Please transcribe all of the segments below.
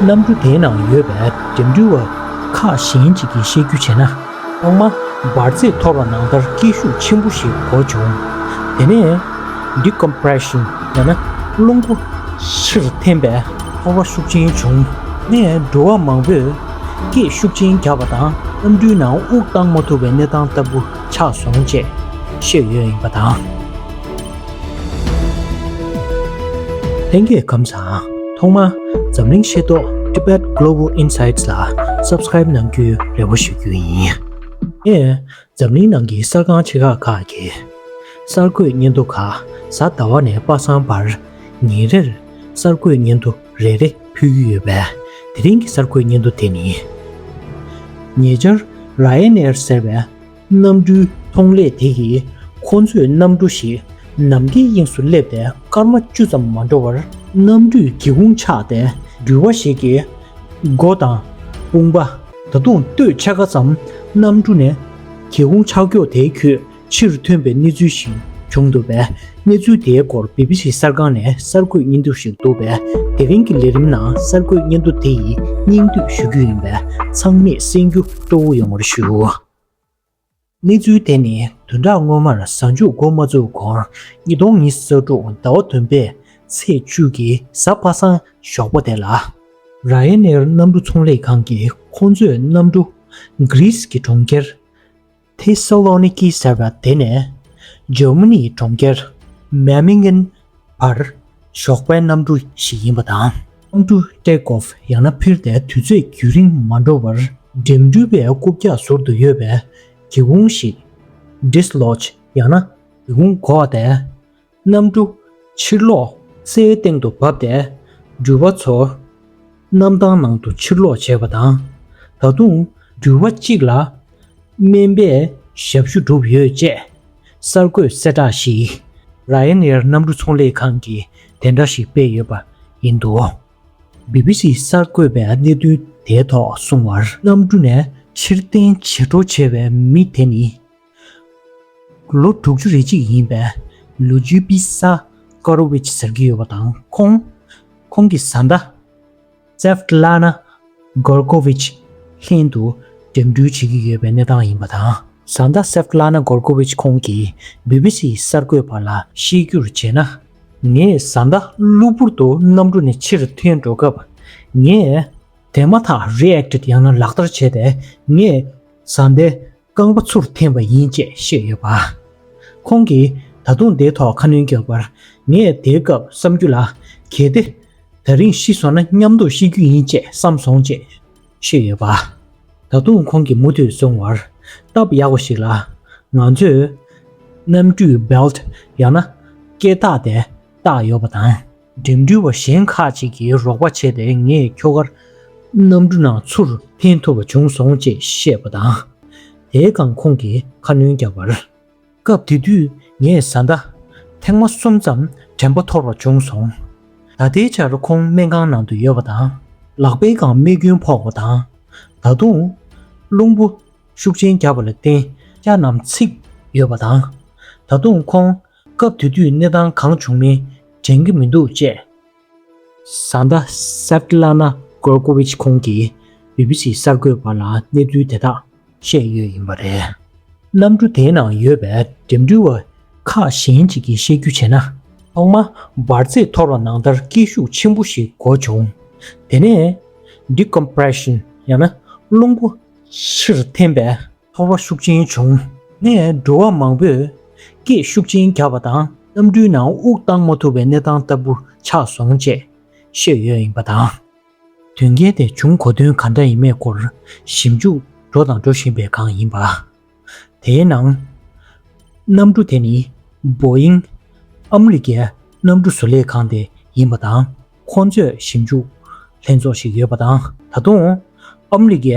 གནམ་གྲུ་དེའི་ནང་ཡོད་པའི་འགྲིམ་འགྲུལ་བ་ཁག་གཞན་ཅིག་གིས་བཤད་རྒྱུ་བྱས་ན། ཐོག་མ་འབར་རྫས་ཐོར་བ་ནང་ལྟར་སྐྱིད་ཤུགས་ཆེན་པོ་ཞིག་གོ་བྱུང། དེ་ནས། Decompression། ཡང་ན་རླུང་འཕོ། ཕྱིར་འཐེན་པས་ཐོར་བ་ཤུགས་ཆེན་བྱུང། ནས་འགྲོ་བ་མང་པོས་སྐད་ཤུགས་ཆེན་རྒྱག་པ་དང་གནམ་གྲུའི་ནང་དབུགས་བཏང་མ་ཐུབ་པའི་གནས་སྟངས་ལྟ་བུ། ཕྱག་ཟུང་བཅས་ཤེས་ཡོན་ཡིན་པ་དང། ལྷན་རྒྱས་གམ་ཚང་ཐོག་མར་འཛམ་གླིང་ཤེས་རྟོགས Tibet Global Insights ལ Subscribe གནང་རྒྱུའི་རེ་བ་ཞུ་རྒྱུ་ཡིན། ངས་འཛམ་གླིང་ནང་གི་གསར་ཁང་ཆེ་ཁག་ཁག་གི་གསར་འགོད་སྙན་ཐོ་ཁ་གསར་ཟླ་བ་ནས་དཔག་བསམ་བར་ཉིན་རེར་གསར་འགོད་སྙན་ཐོ་རེ་རེ་ཕུལ་གྱི་ཡོད་པས་དེ་རིང་གི་གསར་འགོད་སྙན་ཐོ་དེ་ནི། ཉེ་ཆར Ryanair ཟེར་བའི་གནམ་གྲུའི་ཐོང་ལས་དེ་ཡིས་ཁོ་ཚོས་གནམ་གྲུ་ཞིག་ནམ་མཁའི་དབྱིངས་སུ་སླེབས་ཏེ་སྐར་མ་བཅུ་ཙམ་མ་འགྲོ་བར་གནམ་གྲུས་སྒེའུ་ཁུང་ཕྱགས་ཏེ་འགྲུལ་བ་ཞིག་གི་མགོ་དང་དཔུང་པ། ད་དུང་སྟོད་ཆ་ག་ཙམ་གནམ་གྲུ་ནས་སྒེའུ་ཁུང་ཕྱགས་འགྱོག་དེའི་ཁྱུད་ཕྱིར་ཐོན་པའི་གནས་ཚུལ་ཞིག་བྱུང་འདུག་པས་གནས་ཚུལ་དེའི་སྐོར་བི་བི་སི་གསར་ཁང་ནས་གསར་འགོད་སྙན་ཐོ་ཞིག་བསྡུ་བས་དེ་རིང་གི་ལས་རིམ་ནང་གསར་འགོད་སྙན་ཐོ་དེ་ཡི་སྙིང་བསྡུས་ཞུ་རྒྱུ་ཡིན་པས་ཚང་མས་གསན་རྒྱུ་གཙོ་བོ་ཡོང་བར་ཞུ། གནས་ཚུལ་དེ་ནི་དོན་དག་སྔོན་མར་གཟའ་མཇུག་མགོ་མ་བཙུགས་གོང་ཉིས་སྟོང་ཉིས་བརྒྱ་ས་དྲུག་ཟླ་བ་བདུན་པའི་ཚེས་བཅུ་གྱི་གཟའ་པ་སངས་ཞོགས་པ་དེ་ལ། རཱ་ཡེ་ནེར་གནམ་གྲུ་ཚོང་ལས་ཁང་གིས་ཁོང་ཚོས་གནམ་གྲུ། Greece། གི་གྲོང་ཁྱེར། ཐེ་སཱ་ལོ་ནི་ཀི་ཟེར་བ་དེ་ནས་ཇར་མ་ནིའི་གྲོང་ཁྱེར་མེ་མེ་ངན་བར་ཞོགས་པའི་གནམ་གྲུ་ཞིག་ཡིན་པ་དང། གནམ་གྲུ Take Off ཡང་ན་ཕིར་ཏེ་དུས་ཚོད་རྒྱུན་རིང་མ་འགྲོ་བར་འགྲིམ་འགྲུལ་པའི་རྐུབ་བཀྱག་ཟུར་དུ་ཡོད་པའི་གི་ཧུང་ཞིག Dislodge ཡང་ན་གི་ཧུང་གོག་སྟེ། རྣམ་བཀྲུ། ཕྱིར་ལོག། སའི་སྟེང་དུ་བབས་ཏེ། འགྱུར་བ་ཚོར། གནམ་ཐང་ནང་དུ་ཕྱིར་ལོག་བྱས་པ་དང། ད་དུང། འགྱུར་བ་གཅིག་ལ། སྨན་པས་ཞབས་ཞུ་བསྒྲུབས་ཡོད་ཅེས། གསར་འགོད་གསལ་བསྒྲགས་ཤིག། Ryanair གནམ་གྲུ་ཚོང་ལས་ཁང་གིས་དེ་འདྲ་ཞིག་སྤེལ་ཡོད་པ་ཡིན་འདུག་བྷི་བྷི་སི་གསར་འགོད་པས་གནད་དོན་དེའི་ཐོག་གསུངས་བར། གནམ་གྲུ་ནས་ཕྱིར་འཐེན་བྱེད་སྤྲོ་བྱས་པའི་མི་དེ་ནི། ལོ་དྲུག་ཅུ་རེ་གཅིག་ཡིན་པའི་ལོ་རྒྱུས་པི་སཱ་ཀོ་རོ་ཝིཆ་ཟེར་གྱི་ཡོད་པ་དང་ཁོང། ཁོང་གི་བཟའ་ཟླ། ཙེ་ཕི་ལཱ་ནཱ་གོར་ཀོ་ཝིཆ། ལྷན་དུ་འགྲིམ་འགྲུལ་བྱེད་ཀྱི་ཡོད་པའི་གནས་སྟངས་ཡིན་པ་དང། བཟའ་ཟླ་ཙེ་ཕི་ལཱ་ནཱ་གོར་ཀོ་ཝིཆ་ཁོང་གིས་བྷི་བྷི་སི་ཡི་གསར་འགོད་པ་ལ་བཤད་རྒྱུར་བྱས་ན། ངའི་བཟའ་ཟླ་གློ་བུར་དུ་གནམ་གྲུ་ནས་ཕྱིར་ཐོན་འགྲོ་སྐབས། ངས་དེ་མ་ཐག React ཡང་ན་ལག་བསྟར་བྱས་ཏེ་ངས་བཟའ་ཟླའི་རྐང་པ་ཚུར་འཐེན་པ་ཡིན་ཅེས་བཤད་ཡོད་པ། ཁོང་གིས་ད་དུང་དེའི་ཐོག་ཁ་སྣོན་རྒྱག་པར། ངས་དེའི་སྐབས་བསམ་རྒྱུ་ལ། གལ་ཏེ། ད་རིང་ཤི་སོང་ན་མཉམ་དུ་ཤི་རྒྱུ་ཡིན་ཅེས་བསམ་སོང་ཅེས་བཤད་ཡོད་པ། ད་དུང་ཁོང་གིས་མུ་མཐུད་བཟུང་བར་སྟབས་ཡག་པ་ཞིག་ལ། ང་ཚོས། གནམ་གྲུའི Belt ཡང་ན་སྐེད་ཐག་དེ་བཏགས་ཡོད་པ་དང། འགྲིམ་འགྲུལ་བ་གཞན་ཁག་ཅིག་གིས་རོགས་པ་བྱས་ཏེ་ངས་ཁྱོ་གར་གནམ་གྲུ་ནང་ཚུར་འཐེན་ཐུབ་པ་བྱུང་སོང་ཅེས་བཤད་པ་དང། དེའི་སྒང་ཁོང་གིས་ཁ་སྣོན་བརྒྱབ་པར། སྐབས་དེ་དུས་ངས་བཟའ་ཟླ་ཐེངས་མ་གསུམ་ཙམ་དྲན་པ་འཐོར་བ་བྱུང་སོང། ད་ལྟའི་ཆར་ཁོང་སྨན་ཁང་ནང་དུ་ཡོད་པ་དང། ལག་པའི་སྒང་རྨས་སྐྱོན་ཕོག་པ་དང། ད་དུང། རླུང་བུ་ཤུགས་ཆེན་བརྒྱབ་པ་ལ་བརྟེན་སྐྱ་རྣམས་ཚིག་ཡོད་པ་དང། ད་དུང་ཁོང་སྐབས་དེ་དུས་གནས་སྟངས་གང་བྱུང་མིན་དྲན་གྱི་མི་འདུག་ཅེས། བཟའ་ཟླ Svetlana Gorkovich ཁོང་གིས BBC གསར་འགོད་པ་ལ་གནས་ཚུལ་དེ་དག་བཤད་ཡོད་ཡིན་པ་རེད། གནམ་གྲུ་དེའི་ནང་ཡོད་པའི་འགྲིམ་འགྲུལ་བ་ཁག་གཞན་ཅིག་གིས་བཤད་རྒྱུ་བྱས་ན། ཐོག་མ་འབར་རྫས་འཐོར་བ་ནང་ལྟར་སྐྱིད་ཤུགས་ཆེན་པོ་ཞིག་གོ་བྱུང། དེ་ནས Decompression ཡང་ན་རླུང་བུ་ཕྱིར་འཐེན་པས། ཚོར་བ་ཤུགས་ཆེན་བྱུང་ནས་འགྲོ་བ་མང་པོས་སྐད་ཤུགས་ཆེན་རྒྱག་པ་དང་གནམ་གྲུའི་ནང་དབུགས་བཏང་མ་ཐུབ་པའི་གནས་སྟངས་ལྟ་བུ་ཆགས་སོང་ཅེས་བཤད་ཡོད་ཡིན་པ་དང། དོན་རྐྱེན་དེ་བྱུང་གོ་དོན་ག་འདྲ་ཡིན་མེད་སྐོར་ཞིབ་འཇུག་འགྲོ་དང་འགྲོ་བཞིན་པའི་སྒང་ཡིན་པ། དེའི་ནང། གནམ་གྲུ་དེ་ནི Boeing། ཨ་མི་རི་ཀའི་གནམ་གྲུ་བཟོ་ལས་ཁང་དེ་ཡིན་པ་དང་ཁོ་ཚོས་ཞིབ་འཇུག་ལྷན་ཚོགས་ཤིག་ཡོད་པ་དང་ད་དུང་ཨ་མི་རི་ཀའི་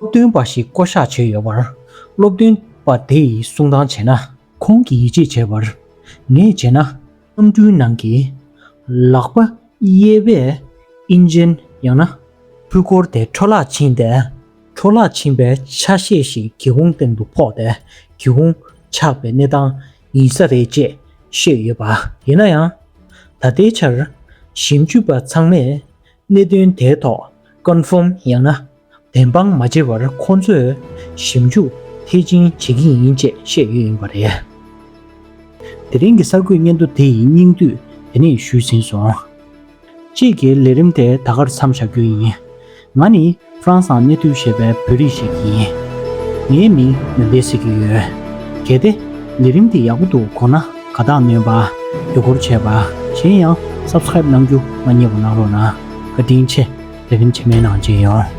སྟོན་པ་ཞིག་བསྐོ་གཞག་བྱས་ཡོད་པར་སློབ་སྟོན་པ་དེ་ཡིས་གསུང་དང་བྱས་ན། ཁོང་གིས་ཡིད་ཆེས་བྱས་པར་ངེས་བྱས་ན། གཏམ་འཕྲུལ་ནང་གི་ལག་པ་གཡས་པས་ཨིན་ཇན་ཡང་ན། འཕུལ་འཁོར་དེ་འཕྲོ་བརླག་ཕྱིན་ཏེ། འཕྲོ་བརླག་ཕྱིན་པའི་ཆ་ཤས་ཤིག་གི་གུང་སྟེང་དུ་ཕོག་སྟེ་གི་གུང་ཆགས་པའི་གནས་སྟངས་ཡིན་ས་རེད་ཅེས་བཤད་ཡོད་པ་ཡིན་ན་ཡང། ད་ལྟའི་ཆར་ཞིབ་འཇུག་པ་ཚང་མས། གནད་དོན་དེའི་ཐོག Confirm ཡང་ན་བདེན་དཔང་མ་བྱེད་པར་ཁོང་ཚོས་ཞིབ་འཇུག་མཐིལ་ཕྱིན་བྱེད་ཀྱི་ཡིན་ཅེས་བཤད་ཡོད་ཡིན་པ་རེད། དེ་རིང་གི་གསར་འགོད་སྙན་ཐོ་དེ་ཡི་སྙིང་བསྡུས་དེ་ནས་ཞུས་ཟིན་སོང། དཔྱིད་ཀྱི་ལས་རིམ་དེ་ད་གར་མཚམས་བཞག་རྒྱུ་ཡིན། ང་ནི་ཧྲང་སང་ནེ་ཐུའུ་ཞེས་པའི་བོད་རིགས་ཤིག་ཡིན། ངའི་མིང་ནོན་པའི་ཟེར་གྱི་ཡོད། གལ་ཏེ། ལས་རིམ་དེ་ཡག་པོ་འདུག་གོ་ན་དགའ་རྟགས་ནོན་པ། དགྱོད་སྐོར་བྱས་པ། གཞན་ཡང Subscribe གནང་རྒྱུ་མ་རྙེད་པ་གནང་རོགས་གནང། བཀའ་དྲིན་ཆེ། ལས་རིམ་ཆེ་མེད་ནང་བརྗེ་ཡོང།